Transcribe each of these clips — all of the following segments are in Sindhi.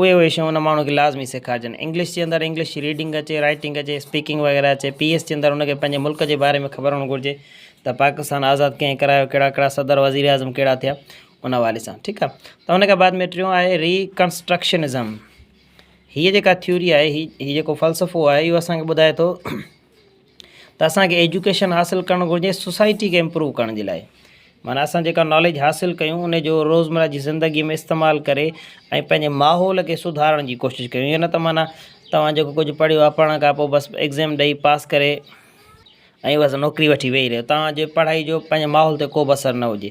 اهي اهي شيون ان ماڻهو کي لازمي سيکارجن. انگلش جي اندر انگلش جي ريڊنگ اچي، رائيٽنگ اچي، اسپيڪنگ وغيره اچي، پي ايس جي اندر ان کي پنهنجي ملڪ جي باري ۾ خبر هئڻ گهرجي ته پاڪستان آزاد ڪنهن ڪرايو، ڪهڙا ڪهڙا صدر وزير اعظم ڪهڙا ٿيا ان حوالي سان ٺيڪ آ. ته ان کان بعد ۾ ٽيون آهي ري ڪنسٽرڪشنزم هيء جيڪا ٿيوري آهي هي هي جيڪو فلسفو آهي اهو اسان کي ٻڌائي ٿو ته اسان کي ايجوڪيشن حاصل ڪرڻ گهرجي سوسائٽي کي امپروو ڪرڻ جي لاء معنيٰ اسان جيڪا ناليج حاصل ڪيون ان جو روزمره جي زندگي ۾ استعمال ڪري ۽ پنهنجي ماحول کي سڌارڻ جي ڪوشش ڪيون ائين نه ته معنيٰ توهان جيڪو ڪجهه پڙهيو آهي پڙهڻ کان پوء بس ايگزام ڏئي پاس ڪري ۽ بس نوڪري وٺي ويهي رهيو توهان جي پڙهائي جو پنهنجي ماحول تي ڪوبه اثر نه هجي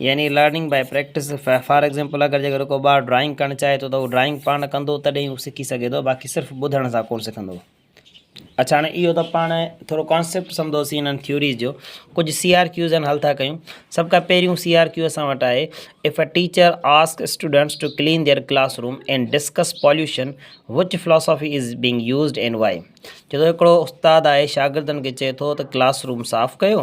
يعني learning by practice for example اگر جيڪڏهن ڪو ٻار ڊرائنگ ڪرڻ چاهي ٿو ته هو ڊرائنگ پاڻ ڪندو تڏهن هو سکي سگهي ٿو باقي صرف ٻڌڻ سان ڪونه سکندو اچھا هاڻي اهو ته پاڻ ٿورو ڪانسيپٽ سمجھوسين انهن ٿيوريز جو ڪجهه سي آر ڪيوز آهن حل ٿا ڪيون سڀ کان پهريون سي آر ڪيو اسان وٽ آهي if a teacher ask students to clean their classroom and discuss pollution which philosophy is being used and why چي ٿو هڪڙو استاد آهي شاگردن کي چي ٿو ته ڪلاس روم صاف ڪيو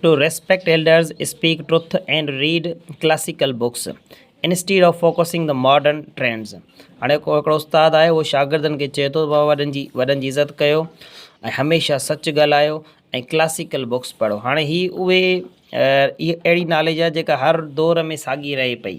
to respect elders, speak truth and read classical books instead of focusing the modern trends هاڻي ڪو هڪڙو استاد آهي اهو شاگردن کي چئي ٿو بابا وڏن جي وڏن جي عزت ڪيو ۽ هميشه سچ ڳالهايو ۽ ڪلاسيڪل بڪس پڙهو هاڻي هي اهي اهڙي ناليج آهي جيڪا هر دور ۾ ساڳي رهي پئي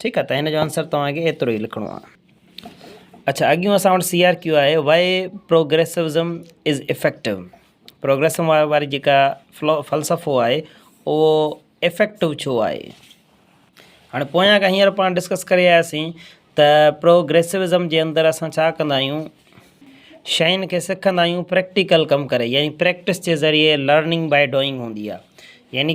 ٺيڪ آ ته هن جو آنسر توهان کي ايترو ئي لکڻو آ. اڇا اڳيون اسان وٽ سي آر ڪيو آهي وائي پروگريسوزم از افيڪٽو پروگريسم واري جيڪا فلسفو آهي اهو افيڪٽو ڇو آهي هاڻي پويان کان هينئر پاڻ ڊسڪس ڪري آياسين ته پروگريسوزم جي اندر اسان ڇا ڪندا آهيون شين کي سکندا آهيون پريڪٽيڪل ڪم ڪري يعني پريڪٽس جي ذريعي لرننگ بائي ڊوئنگ هوندي آهي يعني